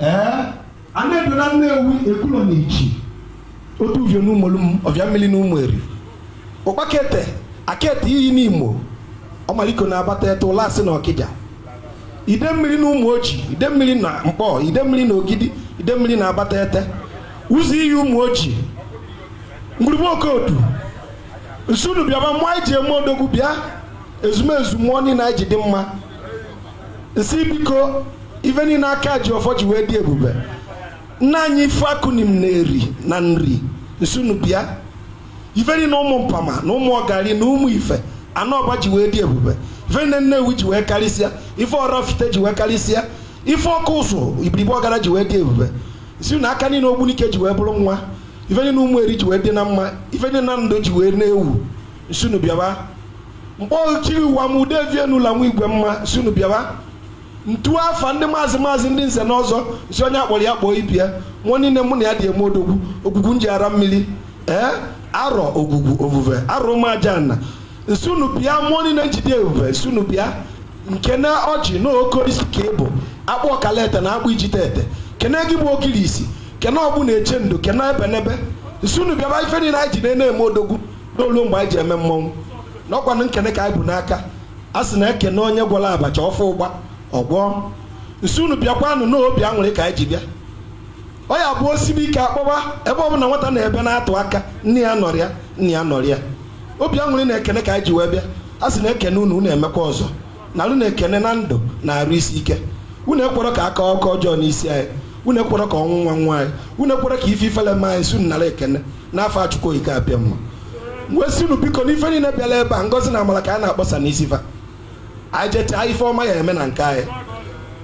ee ana edo na nnewi ekulo na ichi otuvio na umolum ovia mmiri na ụmụeri ụkpakete akete iyi n'imo ọmaliko na abatete ụlasị na ọkịja ide mmiri na ụmụ oji ide mmiri na mkpọ ide mmiri na ogidi ide mmiri na abatete ụzọiyi ụmụ oji ngwurugbu okodu nsị unu bịaba mmụọ anyị ji eme odogwu bịa ezumezu mmụọ niile anyị ji dị mma nsị biko ife niile aka ji ọfọ ji wee dị ebube nna anyị ife akụnim na-eri na nri nsị unu bịa ife niile ụmụ mpama na ụmụ ọgari na ụmụ ife anọ ọba ji wee dị ebube ife niile nnewi ji wee karịsịa ife ọraifite ji wee karịsịa ife ọkụzụ ibiribe ọgada ji wee dị ebube sị na aka niile ogbunike ji wee bụrụ nwa ife niile ụmụ eri ji wee dị na mma ife niile nando ji wee na-ewu nsị unu bịaba mkpọchiri ụwa m ude vienula nwa igwe mma nsị unu bịaba ntu afa ndị maazị maazị ndị nze na ọzọ sị onye a kpọrọ ya kpọọ ibe ya mụọ niile mụ na ya ji eme odogwu ogwugwu nji ara mmiri ee arọ ogwugwu ovuve arọ ụmụajanna nsị unu bịa mụọ niile nji dị ebube nsị unu bịa nkene ọjị na ogirisi ka ị bụ akpụ ọkalete na akpụ ijite ete kene gị bụ ogirisi kene ọgbụ na-eche ndo kene ebenebe nsị unu bịaba ife niile anyị ji na-eme odogwu n'olu mgbe anyị ji eme mmọnwụ n'ọkwanụ nkene ka anyị bu n'aka a sị na ekene onye gwọrọ abacha ọfọ ụgba ọ gwọọ nsị unu bịakwanụ n'obi aṅụrị ka anyị ji bịa ọ ya bụ o sibe ike a kpọba ebe ọ bụla nwata na-ebe na-atụ aka nne ya anọrọ ya nna ya nọrọ ya obi aṅụrị na ekene ka anyị ji wee bịa a sị na ekene unu unu emekwa ọzọ na unu na-ekene na ndụ na arụ isi ike unu ekwerọ ka akụkọ ọjọọ n'isi anyị unu ekwerọ ka ọnwụnwa nwaa anyị unu ekwerọ ka ife ifele mee anyị sị unu nara ekene n'afa chukwu okike abịama mgbe sị unu biko n'ife niile bịara ebe a ngozi na amara ka a na-akpọsa n'isi fa anyị jechaa ife ọma ya-eme na nke anyị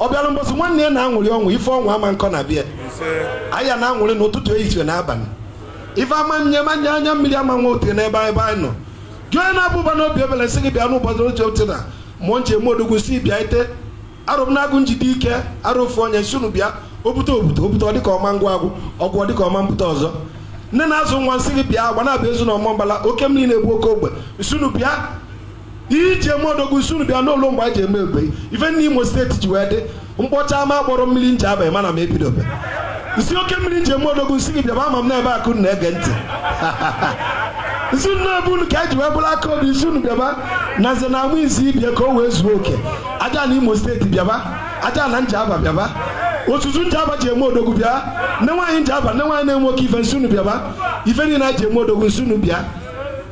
ọ bịara mbọsị nwanne ya na-aṅụrị ọṅụ ife ọṅụ ama akọ na be anyị ya na-aṅụrị n'ụtụtụ ehihie na abalị ife ama nye manya anya mmiri ama nwa ote n'ebe anyị ebe anyị nọ Gị onye na-abụ ụba n'obi ebele sị gị bịa n'ụbọchị oche oche na mụọ nji eme odogwu sị bịa ite arụ m na-agụ njide ike arụ ofu onye nsị unu bịa obute obute obute ọ dịka ọma ngwa agwụ ọgwụ ọ dịka ọma mbute ọzọ nne na-azụ nwa nsị gị bịa agbanabọ ezu na ọmambala oke mmiri na-ebu oke ogbe nsị unu bịa e ji eme odogwu nsị unu bịa n'ụlọ mgbe a ji eme ebe ife ndị Imo steeti ji wee dị m kpọchaa ma akpọrọ mmiri njaba mana m ebidobe nsị oke mmiri nji eme odogwu nsị gị bịaba ama m n'ebe akụ na-ege ntị nsị unu na ọ bụ unu ka e ji wee bụrụ aka obi nsị unu bịaba na nze na amụ izi ibie ka o wee zuo oke ajana imo steeti bịaba ajana njaba bịaba otutu njaba ji eme odogwu bịa nne nwaanyị njaba nne nwaanyị na-enwe oke ife nsị unu bịaba ife niile a ji eme odogwu nsị unu bịa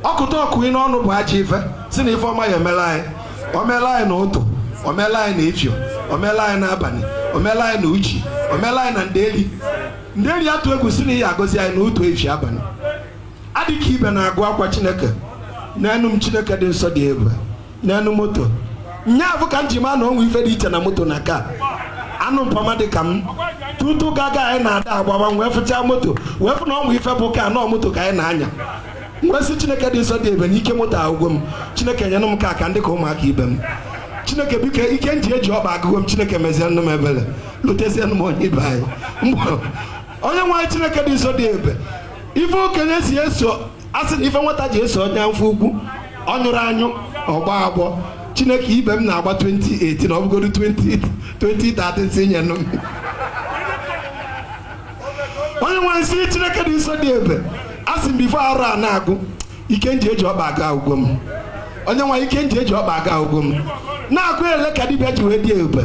ọkụta ọkụ ị n'ọnụ bụ aja ife si na ife ọma ya emela anyị o mela anyị na ụtụ o mela anyị na efie o mela anyị na abalị o mela anyị na uchi o mela anyị na ndeli ndeli atụ egwu sị na i ya-agọzi anyị na ụtụ efi abalị adịka ibe na-agụ akwa chineke nyenụ m chineke dị nsọ dị ebube nyenụ m moto nya bụ ka m ji maa na o nwe ife dị iche na moto na car anụ mpama dị ka m tutu gaga anyị na-ada agbawa wee fụchaa moto wee fụ na o nwe ife bụ car na ọ moto ka anyị na-anya m wee sị chineke dị nsọ dị ebube na ike moto agwụgo m chineke nyenụ m car ka m dị ka ụmụaka ibe m chineke biko ike m ji eji ọkpa agwụgo m chineke mezie nụ m ebele lotezie nụ m onye ibe anyị onye nwe anyị chineke dị nsọ dị ebube ife okenye si eso asị na ife nwata ji eso onye afọ ukwu ọ nyụrọ anyụ ọ gbọọ agbọ chineke ibe m na-agba 2018 ọ bụgodu 20 2013 sị nyenụ m onye nwe anyị nsị chineke dị nsọ dị ebube asị m before arọ a na-agwụ ike nji eji ọkpa aga agwụgo m onye nwe anyị ike nji eji ọkpa aga agwụgo m na-agụ ele ka dibịa ji wee dị ebube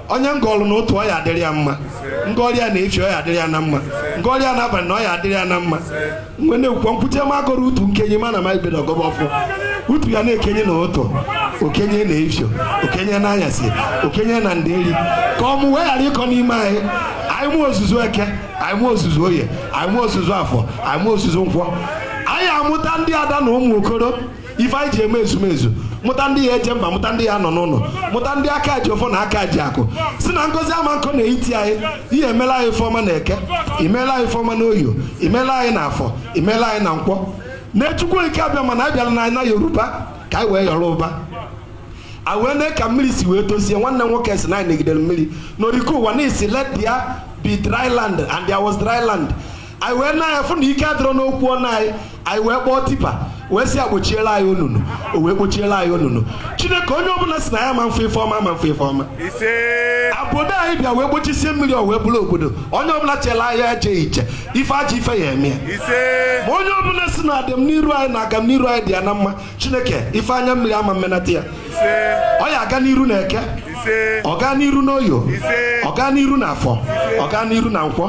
onye ngọlụ na ụtụ ọ ya-adịrị ya mma ngọrọ ya na efie ọ ya-adịrị ya na mma ngọrọ ya na abalị na ọ ya-adịrị ya na mma m wee na-ekwukwa nkwute ma agọrọ utu nkenye mana m bido gọba ọfọ utu ya na-ekenye na ụtụ o kenie na efie o kenie na anyasị o kenie na nderi ka ọmụmụ wee ghara ịkọ n'ime anyị anyị mụ ozuzu eke anyị mụ ozuzu oye anyị mụ ozuzu afọ anyị mụ ozuzu nkwọ anyị amụta ndị ada na ụmụ okoro ife anyị ji eme ezumezu mụta ndị ya-eje mba mụta ndị ya-anọ n'ụlọ mụta ndị aka ji ọfọ na aka ji akụ sị na ngọzi ama akọ na etiti anyị i ya-emela anyị ife ọma na eke i mela anyị ife ọma na oye i mela anyị na afọ i mela anyị na nkwọ na chukwu okike abịama na abịala na ana yoruba ka anyị wee yọrọ ụba a wee nee ka mmiri si wee tosie nwanne nwoke sị na anyị negidere mmiri n'oriko ụwa na-asị let there be dry land and there was dry land anyị wee nee ya fụ na ike adịrọ n'okwu ọnụ anyị anyị wee kpọọ tipper wee sị ya kpochiela anyị onunu o wee kpochiela anyị onunu chineke onye ọbụla sị na anyị ama afụ ife ọma ama afụ ife ọma obodo anyị bịa wee kpochisie mmiri o wee bụrụ obodo onye ọbụla chela anyị eje iche ife ajọ ife ya-eme ya ma onye ọbụla sị na adịm n'iru anyị na agam n'iru anyị dị ya na mma chineke ife anya mmiri ama mmenata ya ọ ya-aga n'iru na eke ọ gaa n'iru n'oye ọ gaa n'iru na afọ ọ gaa n'iru na nkwọ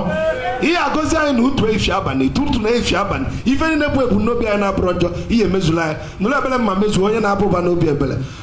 i ya-agọzi anyị na ụtụ efi abalị ụtụtụ na efi abalị ife niile bụ ebumnobi anyị na-abụrọ njọ i ya-emezula anyị nụrụ ebele mma mezuo onye na-aba ụba n'obi ebele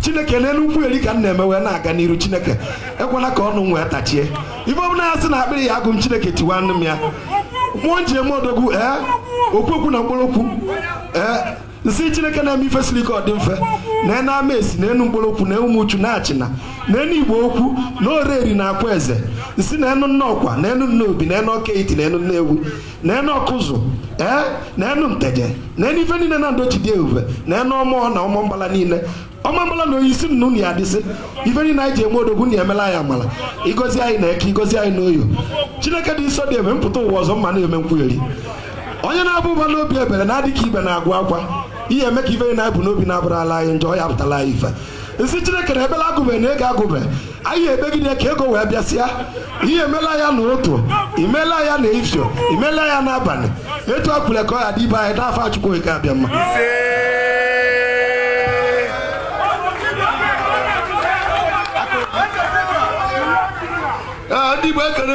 chineke n'elu nkwugheri ka m na-eme wee na-aga n'iru chineke ekwena ka ọnụ m wee tachie ife ọbụla ya sị na akpịrị ya agụ m chineke tiwa nụ m ya mmụọ nji eme odogwu ee okwu okwu na mkpụrụ okwu ee nsị chineke na-eme ife siri ike ọ dị mfe na enu amesi na enu nkpologwu na enu ụmụchu na achịna na enu igbo ukwu na oraeri na akwaeze nsị na enu nnọkwa na enu nnobi na enu ọka etiti na enu nnewi na enu ọkụzụ ee na enu nteje na enu ife niile na ndochi dị ebube na enu ọmụọ na ọmambala niile ọmambala na oyisi nnu na ya adịsị ife niile anyị ji eme odogwu na emela anyị amala i gozie anyị na eke i gozie anyị na oye chineke dị nsọ dị ebe mpụta ụwa ọzọ mma na-eme nkwugheri onye na-aba ụba n'obi ebere na-adị ka ibe na-agwa akwa ihe eme ka ife niile anyị bu n'obi na-abụrụ ala anyị njọ ya pụtala anyị ife m sị chineke na ekpele agụbe na ego agụbe anyị ekpegide ka ego wee bịasịa i mela ya na ụtụtụ i mela ya na efifie i mela ya n'abalị etu a kwulu ka ọ ya dị ibe anyị n'afa chukwu eke abịama ndị igbo ekele